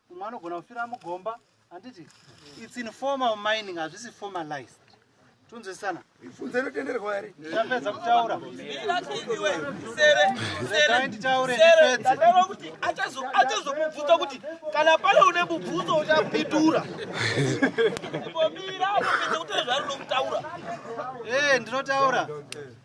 umwe anogona kufira mugomba handiti its informal mining hazvisi formalized tunzwisana funza inotenderwa here tapedza kutaura kuti achazomubvunza kuti kana pane une mubvunzo uchapindura eh, ndinotaura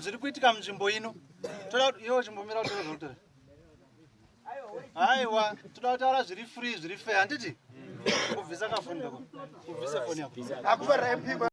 zviri kuitika munzvimbo ino toda kuti iwo chimbomira kuti tozotore haiwa toda kutaura zviri free zviri fair handiti kubvisa kafoni kako kubvisa foni yako akuvaraipiwa